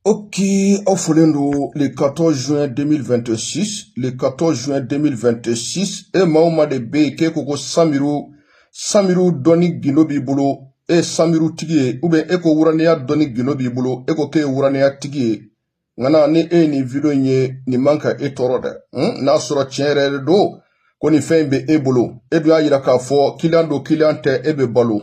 Ok, aw folen don le 14 juin 2026 le 14 juin 2026 e maa o maa de bɛ yen k'e ko ko samiru samiru dɔnni gindo b'i bolo e ye samiru tigi ye ou bien e ko wuranɛya dɔnni gindo b'i bolo e ko k'e ye wuranɛya tigi ye nka na ni e ye nin video in ye nin man ka e tɔɔrɔ dɛ hmm? n'a sɔrɔ tiɲɛ yɛrɛ de don ko nin fɛn in bɛ e bolo e dun y'a yira k'a fɔ kiliyan don kiliyan tɛ e bɛ balo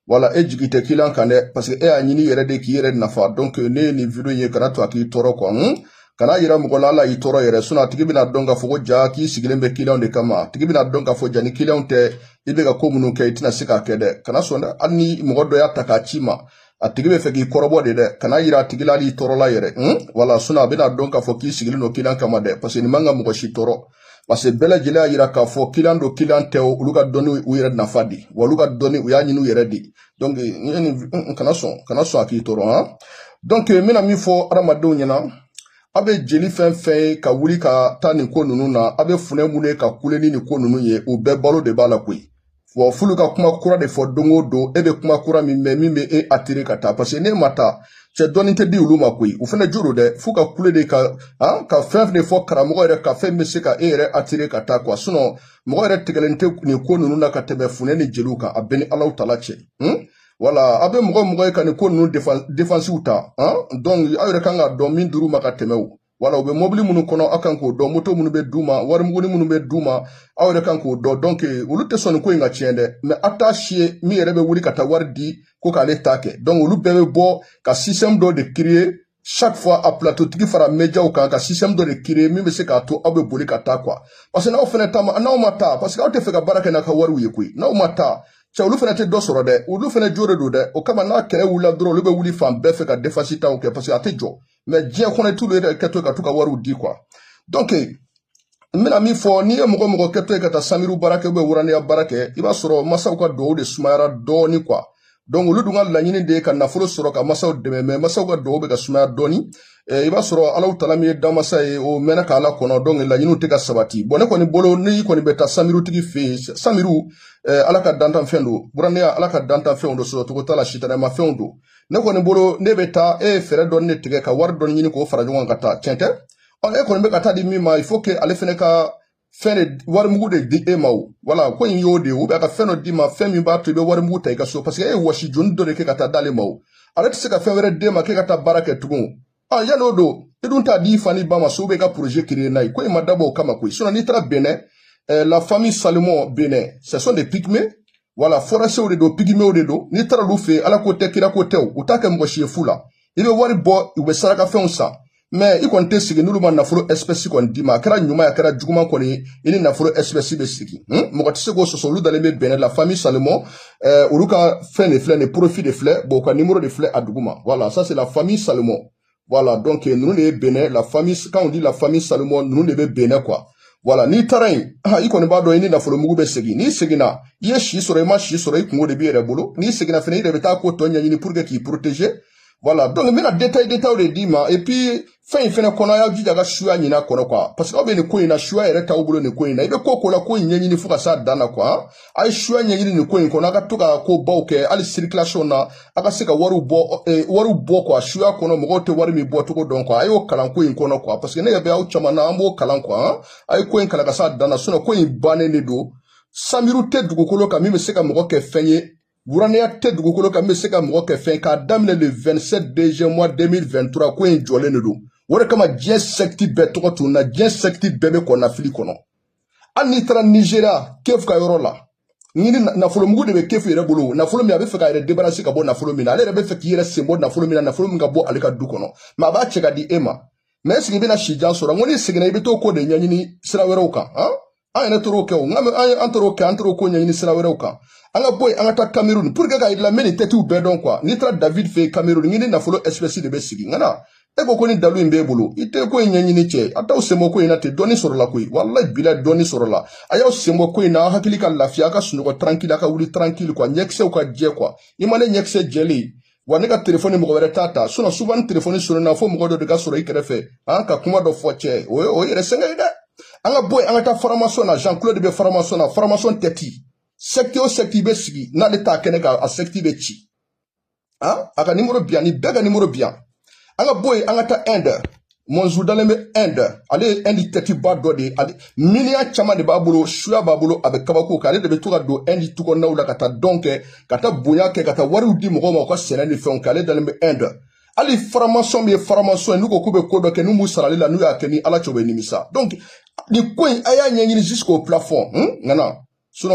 wala e jigi tɛ kiliyan kan dɛ parce que e y'a ɲini i yɛrɛ de k'i yɛrɛ nafa donc n'e ye nin video ye kana to a k'i tɔɔrɔ quoi hun kana yira mɔgɔ la hali a y'i tɔɔrɔ yɛrɛ sinon a tigi bɛna dɔn k'a fɔ ko ja k'i sigilen bɛ kiliyanw de kama a tigi bɛna dɔn k'a fɔ ja ni kiliyanw tɛ i bɛ ka ko minnu kɛ i tɛna se k'a kɛ dɛ kana sɔn dɛ hali ni mɔgɔ dɔ y'a ta k'a ci i ma a tigi bɛ fɛ k'i kɔrɔbɔ de dɛ kana yira a tigi la hali i tɔɔrɔla yɛrɛ hun wala sinon a bɛna dɔn k'a fɔ k'i sigilen don kiliyan kama dɛ parce que nin man ka mɔgɔ si tɔɔrɔ parce que bɛɛ lajɛlen y'a yira k'a fɔ kiliyan don kiliyan tɛ olu ka dɔnni u yɛrɛ nafa de wa olu ka dɔnni u y'a ɲini u yɛrɛ de donc n kana sɔn kana sɔn a k'i tɔɔrɔ han donc n bɛna min fɔ adamadenw ɲɛna a bɛ jeli fɛn fɛn ye ka wuli ka taa nin ko ninnu na a bɛ funɛ minnu ye ka kule ni nin ko ninnu ye u bɛɛ balo de b'a la koyi wa f'olu ka kuma kura de fɔ don o don e bɛ kuma kura min mɛn min bɛ e attirer ka taa parce que n'e ma taa cɛ dɔɔni tɛ di olu ma koyi u fana jo don dɛ f'u ka kule de ka han ka fɛn de fɔ karamɔgɔ yɛrɛ ka fɛn bɛ se ka e yɛrɛ attirer ka taa quoi sinon mɔgɔ yɛrɛ tigɛlen tɛ nin ko ninnu na ka tɛmɛ funɛ ni jeliw kan a bɛɛ ni alahu taala cɛ hmm? wala a bɛ mɔgɔ mɔgɔ ye ka nin ko ninnu defansiw ta han donc aw yɛrɛ kan k'a dɔn min dir'u ma ka tɛmɛ o wala u bɛ mɔbili minnu kɔnɔ aw kan k'o dɔn moto minnu bɛ d'u ma warimuguni minnu bɛ d'u ma aw yɛrɛ kan k'o dɔn donc olu tɛ sɔn nin ko in ka tiɲɛ dɛ mɛ aw t'a si ye min yɛrɛ bɛ wuli ka taa wari di ko k'ale ta kɛ donc olu bɛɛ bɛ bɔ ka système dɔ de créer chaque fois a plateau tigi fara médiaw kan ka système dɔ de créer min bɛ se k'a to aw bɛ boli ka taa quoi parce que n'aw fana ta ma n'aw ma taa parce que aw tɛ fɛ ka baara kɛ n'a ka wariw ye koyi n'aw ma taa cɛ olu fana tɛ dɔ sɔrɔ dɛ olu fana jo de don dɛ o kama n'a kɛlɛ wulila dɔrɔn olu bɛ wuli fan bɛɛ fɛ ka defansi taw kɛ parce que a tɛ jɔ mɛ diɲɛ kɔnɔ i t'olu yɛrɛ kɛtɔ ka t'u ka wariw di quoi donc n bɛna min fɔ n'i ye mɔgɔ mɔgɔ kɛtɔ ye ka taa samiru baara kɛ ou bien wuraniya baara kɛ i b'a sɔrɔ masaw ka duwawu de sumayara dɔɔni quoi donc olu dun ka laɲini de ye ka nafolo sɔrɔ ka masaw dɛmɛ mɛ masaw ka duwawu bɛ ka sumaya dɔɔni eh, i b'a sɔrɔ alahu taala min ye danmasa ye o mɛnna ka ala kɔnɔ donc laɲiniw tɛ ka sabati bon ne kɔni bolo n'i kɔni bɛ taa samirutigi fɛ yen samiru eh, ala ka dantanfɛn don wuraneya ala ka dantanfɛnw don sɔrɔcogo t'a la sitanɛmafɛnw don ne kɔni bolo n'e bɛ taa e ye fɛɛrɛ dɔɔni de tigɛ ka wari dɔɔni ɲini k'o fara ɲɔgɔn kan ka taa tiɲɛ tɛ ɔ e kɔni bɛ ka t'a di min ma il faut que ale fɛnɛ ka fɛn de warimugu de di e ma o wala ko in y'o de ye u bɛ ka fɛn dɔ d'i ma fɛn min b'a to i bɛ warimugu ta i ka so parce que e ye wɔsi joni dɔ de kɛ ka t'a d'ale ma o ale tɛ se ka fɛn wɛrɛ d'e ma k'e ka taa baara kɛ tugun ɔ yala o don i dun t'a di i fa ni ba ma so bɛ ka projet créer n'a ye ko in ma dabɔ o kama koyi sinon n'i taara Benin eh, la famille Salomon Benin ce sont des pygmées voilà forasiw de don pigimew de don n'i taara olu fɛ yen ala ko tɛ kira ko tɛ u t'a kɛ mɔgɔ si ye fu la i bɛ wari bɔ u bɛ sarakafɛnw san mais i kɔni tɛ segin n'olu ma nafolo espèce kɔni d'i ma a kɛra ɲuman a kɛra juguman kɔni ye i ni nafolo espèce bɛ segin mɔgɔ tɛ se k'o sɔsɔ olu dalen bɛ Benin la famille Salomon euh, olu ka fɛn de filɛ nin profil de filɛ bon u ka numéro de filɛ a duguma voilà ça c'est la famille Salomon voilà donc euh, ninnu de ye Benin la famille quand on dit la famille Salomon ninnu de bɛ Benin quoi voilà n'i taara yen ah, i kɔni b'a dɔn i ni nafolo mugu bɛ segin n'i seginna i ye si sɔrɔ i ma si sɔrɔ i kunko de b'i yɛrɛ bolo n'i seginna fana i yɛrɛ bɛ taa ko tɔ ɲɛɲini pour que k'i protéger voilà donc n bɛna detail detail de d'i ma et puis fɛn in fɛnɛ kɔnɔ a y'a jija ka suya ɲin'a kɔnɔ quoi parce que aw bɛ nin ko in na suya yɛrɛ t'aw bolo nin ko in na i bɛ ko ko la ko in ɲɛɲini fo ka s'a dan na quoi a ye suya ɲɛɲini nin ko in kɔnɔ a ka to ka ko baw kɛ hali circulation na a ka se ka wariw bɔ eh, wariw bɔ quoi suya kɔnɔ mɔgɔw tɛ wari min bɔ cogo dɔn quoi a y'o kalan ko in kɔnɔ quoi parce que ne yɛrɛ bɛ aw caman na an b'o kalan quoi a ye ko in kalan ka s'a dan na sinon ko in bannen de don sanbiriw tɛ dugukolo kan min bɛ se ka mɔgɔ kɛ fɛn ye Wuranɛya tɛ dugukolo kan bɛ se ka mɔgɔ kɛ fɛn k'a daminɛ le 27 deuxième mois 2023 ko in jɔlen de don o de kama diɲɛ sɛkiti bɛɛ tɔgɔ tun na diɲɛ sɛkiti bɛɛ bɛ kɔnɔnafili kɔnɔ hali n'i taara nizeriya kefu ka yɔrɔ la ɲini nafolomugu de bɛ kefu yɛrɛ bolo nafolo min a bɛ fɛ k'a yɛrɛ debarasi ka bɔ nafolo min na ale yɛrɛ bɛ fɛ k'i yɛrɛ sen bɔ nafolo min na nafolo min ka bɔ ale ka du kɔnɔ mais a b'a cɛ ka di e ma mais est-ce que i bɛna sijan sɔrɔ n ko n'i seginna i bɛ t'o ko de ɲɛɲini sira wɛrɛw kan an yɛrɛ taar'o kɛ o an taar'o kɛ an taar'o ko ɲɛɲini sira wɛrɛw kan an ka bɔ yen an ka taa kamerun pour que k'a yir'i la n bɛ nin tɛtiw bɛɛ dɔn quoi n'i taara david fɛ yen kamerun i ni nafolo espèce de bɛ segin nka n'a ye ko ko nin dalu in b'e bolo i tɛ ko in ɲɛɲini cɛ a t'aw senbɔ ko in na ten dɔɔni sɔrɔla koyi walayi bila dɔɔni sɔrɔla a y'aw senbɔ ko in na aw hakili ka lafiya aw ka sunɔgɔ tranquille aw ka wuli tranquille quoi ɲɛkisɛw ka jɛ quoi n'i ma ne ɲɛkisɛ jɛlen wa ne ka telefɔni mɔgɔ wɛrɛ t'a ta sinon suba ni telefɔni sonina fo mɔgɔ dɔ de ka sɔrɔ i kɛrɛfɛ an ka kuma dɔ fɔ cɛ o ye o yɛrɛ sɛgɛn ye dɛ an ka bɔ yen an ka taa faramasɔn na jean claude bɛ faramasɔn na faramasɔn tɛti sɛkiti o sɛkiti bɛ sigi n'ale t'a kɛnɛ kan a sɛkiti bɛ ci an a ka nimoro bɛ yan nin bɛɛ ka nimoro bɛ yan an ka bɔ yen an ka taa inde Mɔnzu dalen bɛ Inde ale ye Inde tɛtiba dɔ de ye ale miliyɔn caman de b'a bolo suya b'a bolo a bɛ kabakow kɛ ale de bɛ to ka don Inde tukɔnɔnaw la ka taa dɔn kɛ ka taa bonya kɛ ka taa wariw di mɔgɔw ma u ka sɛnɛ ni fɛnw kɛ ale dalen bɛ Inde hali faramasɔn min ye faramasɔn ye n'u ko k'u bɛ ko dɔ kɛ n'u m'u sar'ale la n'u y'a kɛ ni ala cɛ u bɛ nimisa donc nin ko in a y'a ɲɛɲini jusqu'au plafond ŋana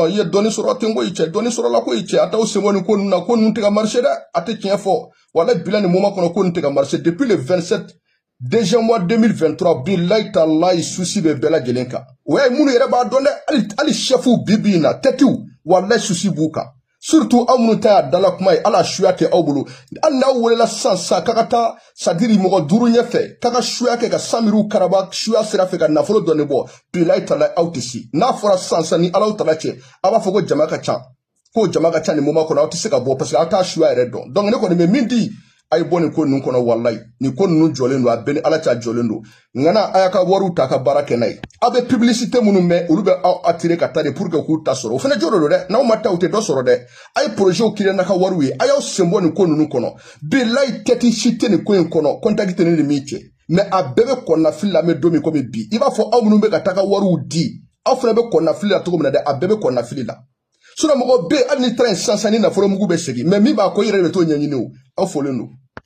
i ye dɔɔni sɔrɔ ten koyi cɛ dɔɔni sɔrɔla koyi cɛ a t'aw senbɔ nin ko ninnu na ko ninnu tɛ ka marcher dɛ a tɛ tiɲɛ fɔ wala bila nin moment kɔnɔ ko nin tɛ ka marcher depuis le 27 deuxième mois 2023 bilayi talayi susi bɛ bɛɛ lajɛlen kan o y'a ye minnu yɛrɛ b'a dɔn dɛ hali hali sɛfuw bi bi in na tɛtiw walayi susi b'u kan surtout aw minnu ta y'a dala kuma ye ala suya kɛ aw bolo hali n'aw welela sisan sisan k'a ka taa sadiri mɔgɔ duuru ɲɛfɛ k'a ka suya kɛ ka samiriw karaba suya sira fɛ ka nafolo dɔɔni bɔ bilayi tala aw tɛ se n'a fɔra sisan sisan ni ala tala cɛ a b'a fɔ ko jama ka ca k'o jama ka ca nin moment kɔnɔ aw tɛ se ka bɔ parce que aw tɛ suya yɛrɛ dɔn donc ne kɔni bɛ min di a ye bɔ nin ko ninnu kɔnɔ walayi nin ko ninnu jɔlen don a bɛɛ ni ala cɛ jɔlen don nka na a y'a ka wariw ta ka baara kɛ n'a ye aw bɛ publicité minnu mɛn olu bɛ aw attirer ka taa de pour que k'u ta sɔrɔ o fana jo de don dɛ n'aw ma taa u tɛ dɔ sɔrɔ dɛ a ye projets créer n'a ka wariw ye a y'aw sen bɔ nin ko ninnu kɔnɔ bilayi tɛti si tɛ nin ko in kɔnɔ contact tɛ ne ni min cɛ mais a bɛɛ bɛ kɔnɔnafili la mais don min komi bi i b'a fɔ aw minnu bɛ ka taa ka wariw di aw fana bɛ kɔnɔnafili la cogo min na dɛ a bɛɛ bɛ kɔnɔnafili la sinon mɔgɔ bɛ yen hali n'i taara yen sisan sisan ni nafolo mugu bɛ segin mais min b'a ko i yɛrɛ de bɛ t'o ɲɛɲini o a fɔlen don